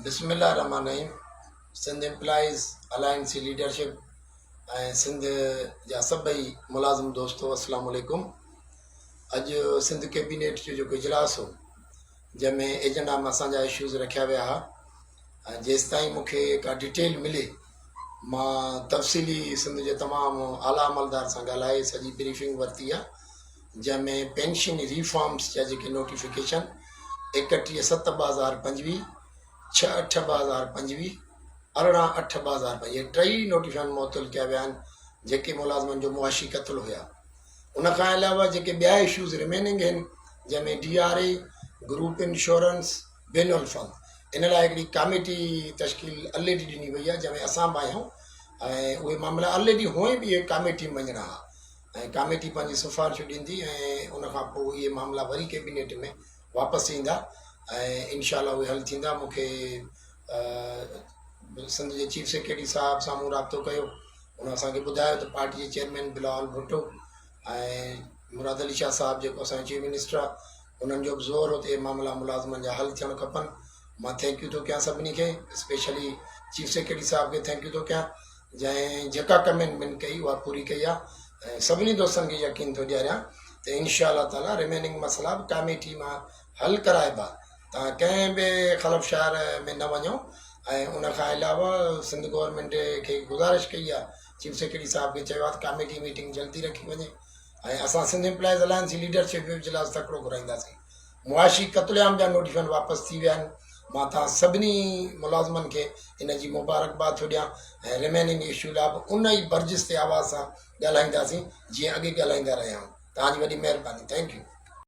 بسم الله الرحمٰن الرحيم سنڌ امپلائيز الائنس جي ليڊرشپ ۽ سنڌ جا سڀئي ملازم دوستو السلام عليڪم اڄ سنڌ ڪيبينيٽ جو جيڪو اجلاس هو جنهن ۾ ايجنڊا ۾ اسان جا اشوز رکيا ويا هئا ۽ جيستائين مونکي ڪا ڊيٽيل ملي مان تفصيلي سنڌ جي تمام اعليٰ عملدار سان ڳالهائي سڄي بريفنگ ورتي آهي جنهن ۾ پينشن ريفارمز جا جيڪي نوٽيفڪيشن ايڪٽيهه ست ٻه هزار پنجويهه، ڇهه اٺ ٻه هزار پنجويهه، ارڙهن اٺ ٻه هزار پنجويهه اهي ٽئي نوٽيفڪيشن معطل ڪيا ويا آهن جيڪي ملازمن جو معاشي قتل هيا. ان کان علاوه جيڪي ٻيا اشوز رميننگ هن جنهن ۾ D R A, group insurance, بين الفنڊ ان لاء هڪڙي ڪاميٽي تشڪيل الريڊي ڏني وئي آهي جنهن ۾ اسان به آهيون ۽ اهي معاملا الريڊي هونئن به اهي ڪاميٽي مڃڻا ها. ۽ ڪاميٽي پنهنجي سفارشون ڏيندي ۽ ان کان پوء اهي معاملا وري ڪيبينيٽ ۾ واپس ايندا ۽ انشاء الله اهي حل ٿيندا مون کي سنڌ جي چيف سيڪريٽري صاحب سان مون رابطو ڪيو ان اسانکي ٻڌايو ته پارٽي جي چيئرمين بلاول ڀٽو ۽ مراد علي شاهه صاحب جيڪو اسانجو چيف منسٽر آهي انهن جو بھ زور هو ته اهي معاملا ملازمن جا حل ٿيڻ کپن مان ٿينڪيو ٿو ڪيان سڀني کي اسپيشلي چيف سيڪريٽري صاحب کي ٿينڪيو ٿو ڪيان جنهن جيڪا ڪمين من ڪئي اها پوري ڪئي آهي ۽ سڀني دوستن کي يقين ٿو ڏياريان ته انشاء الله تعالي رميننگ مسئلا به ڪاميٽي مان حل ڪرائبا تان ڪنهن به خلف شهر ۾ نه وڃو ۽ ان کان علاوه سنڌ گورنمينٽ کي گذارش ڪئي آهي چيف سيڪريٽري صاحب کي چيو آهي ته ڪاميٽي ميٽنگ جلدي رکي وڃي ۽ اسان سنڌ امپلائيز الائنس جي ليڊرشپ جو اجلاس تڪڙو گهرائينداسين معاشي قتل عام جا نوٽيفڪيشن واپس ٿي ويا آهن مان توهان سڀني ملازمن کي ان جي مبارڪباد ٿو ڏيان ۽ رميننگ اشو لا به ان ئي برجستي آواز سان ڳالهائينداسين جيئن اڳي ڳالهائيندا رهيا آهيون توهان جي وڏي مهرباني ٿينڪ يو